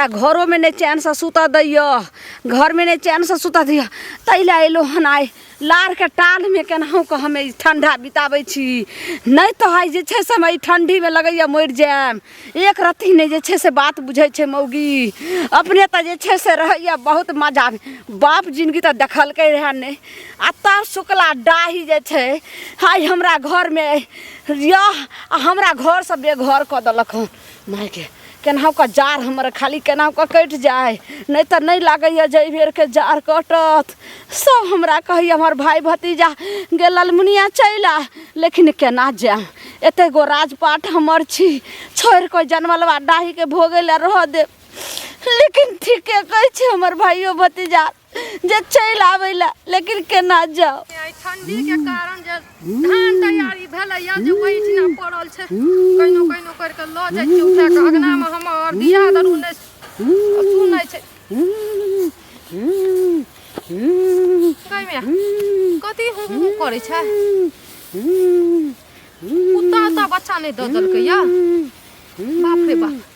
आ घरोमे नहि चैनसँ सुतऽ दैए घरमे नहि चैनसँ सुतऽ दैए ताहि लए अयलहुँ हन आइ लारके टालमे केनाहुके हम ई ठण्डा बिताबै छी नहि तऽ आइ जे छै से हम एहि ठण्डीमे लगैए मरि जायब एक रत्ती नहि जे छै से बात बुझै छै मौगी अपने तऽ जे छै से रहैए बहुत मजा बाप जिनगी तऽ देखलकै रहए नहि आ तब शुक्ला डाही जे छै आइ हमरा घरमे यऽ आ हमरा घरसँ बेघर कऽ देलक हन मायके केनाहुके जाड़ हमर खाली केनाहुके कटि जाय नहि तऽ नहि लागैए जे एहि बेरके जाड़ कटत सभ हमरा कहैए हमर भाय भतीजा गे ललमुनिया चलि आ लेकिन केना जायब एतेक गो राजपाट हमर छी छोड़ि कऽ जनमलवा डाहीके भोगै लए रहऽ देब लेकिन ठीके कहै छै हमर भाइयो भतीजा जे चलि आबै लए लेकिन केना जाओ आइ ठंडी के कारण जे धान तैयारी भेलैया जे ओहिठिना पड़ल छै कहिनो कहिनो करि कऽ लऽ जाइ छी उठा कऽ अगना मे हमर दिया दरू नहि सुनै छै कहिमे कथी हूँ हूँ करै छै कुत्ता उत्ता बच्चा नहि दऽ देलकै या बाप रे बाप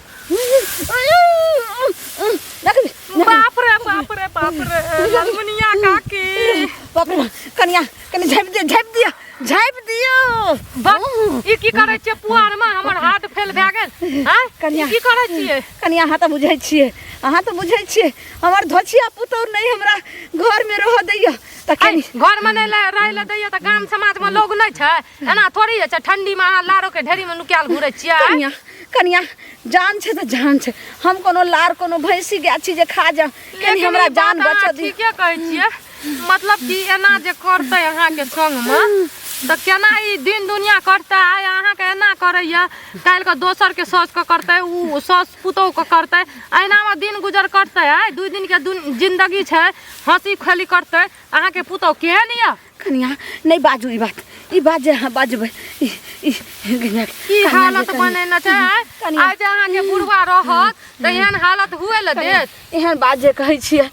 बाप रे बाप रे बाप रे ललमुनिया काकी बाप रे कनिया कनी झापि दियो झापि दियो झापि दियो बक ई की करै छियै पुआर में हमर हाथ फेल भए गेल हैं कनिया। ई की करै छियै कनिया अहाँ तऽ बुझै छियै अहाँ तऽ बुझै छियै हमर धोछिया पुतौर नहि हमरा घरमे रहऽ दैया तऽ ऐ, कनी घर में नहीं ले- रहे ले दैया तऽ गाम समाज में लोग नहीं छै एना थोड़ी होइ छै ठंडी में अहाँ लारो के ढेरी में नुकायल घुरे छियै कनिया कनिया जान छै तऽ जान छै हम कोनो लार कोनो भैंसी गाय छी जे खा जा कनि लेकिन हमरा ई जान बात अहाँ बचा दी ठीके कहै छियै मतलब कि एना जे करतै अहाँके संगमे तऽ केना ई दिन दुनिया करतै आइ अहाँके एना करैया काल्हिके दोसरके साउसके करतै ओ साउस पुतोहके करतै अहिनामे दिन गुजर करतै आइ दू दिनके दुन जिन्दगी छै हँसी खेली करतै अहाँके पुतोह केहन यऽ कनिया नहीं बाजू ई बात ई बात जे हाँ बाजबै ई ई कनिया की कनिया जे हालत कनिया- बने न छै कनिया। आज अहाँ के बुढ़वा रहत त एहन हालत हुए ल देत एहन बात जे कहै छियै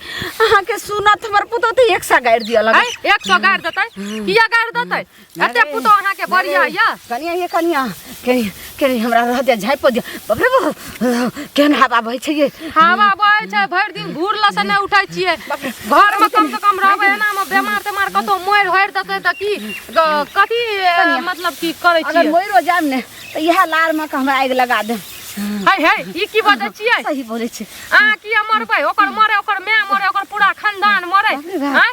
अहाँके सुनत हमर पुतौ तऽ एक सा गाड़ि दिअ लगै है एक सौ गाड़ देतै किया गाड़ देतै एते पुतो अहाँ के बढ़िया यऽ कनिया ये कनिया कनिया के नहीं हमरा रह दे झाइप दे बाप रे बाप केहन हवा बहै छै ये हवा बहै छै भरि दिन घूर लऽ से नहि उठै छियै घर मे कम से कम रहबै एना मे बेमार तेमार कतौ मोरि होरि देतै तऽ की ग- कथी ए, मतलब की करै अगर छियै मोइरो जाम ने तो यह लार में के हमरा आग लगा दे है है ई की बजै छियै सही बोले छै अहाँ किया मरबै ओकर मरे ओकर माय मरे ओकर पूरा खानदान मरे बाप रे बाप। आँय?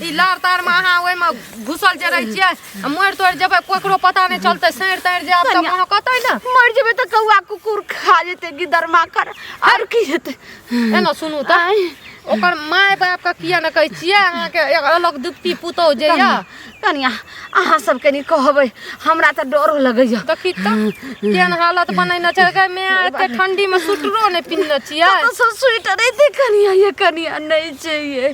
ई लार तार में अहाँ ओहि में घुसल जे रह छियै आ मरि तोड़ जेबै कोकरो पता नहि चलतै सैर तैर जे आब तऽ कनिया। महकतै ने मर जेबै तऽ कौआ कुकुर खा जेतै गिदर माकर आर की हेतै एना सुनू तऽ आँय, ओकर माय बाप के किया ने कहै छियै अहाँके एक अलग दुप्ती पुतौ जे कनिया यऽ कनिया अहाँ सब कनी कहबै हमरा तऽ डरो लगैया देखी तऽ केहन हालत बनैने छै गै माय एते ठंडी में सुटरो नहि पिन्हने छियै कतऽसँ स्वेटर एतै कनिया ये कनिया नहि छै ये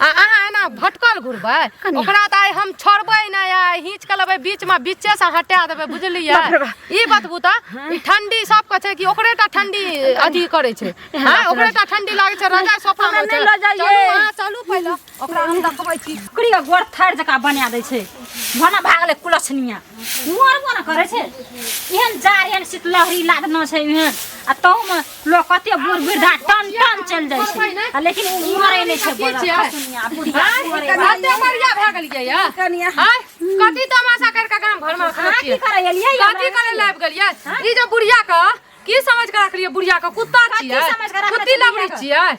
आ अहाँ एना भटकल घुरबै ओकरा तऽ आइ हम छोड़बै नहि आ हिंच के लेबै बीच में बीचे से हटा देबै बुझलियै बाप रे बाप। ई बतबू तऽ ई ठंडी सबके छै कि ओकरे टा ठंडी अथी करै छै हाँ ओकरे टा ठंडी लागै छै रजाई सोफा हमरा में नहि लऽ जाइए। चलू अहाँ चलू पहिले ओकरा हम देखबै छी ओकरी के गोड़ थार जका बना दै छै भना भागले कुलछनिया मोर मोर करे छै एहन जार एहन शीतलहरी लागना छै एहन आ तहू में लोग कते बूढ़ वृद्धा टन टन चल जाय छै आ लेकिन उ मरे नै छै बोला खसुनिया बुढ़िया मरे बा। कते बढ़िया भए गेलियै या कनिया आय कथी तमाशा कर के गांव भर में रखले अहाँ की छियै करे एलियै हमरा कथी करे लाइब गेलियै ई जे बुढ़िया के की समझ के रखलियै बुढ़िया के कुत्ता छियै समझ के रखले कुत्ती छियै लबड़ी बुढ़िया के? छियै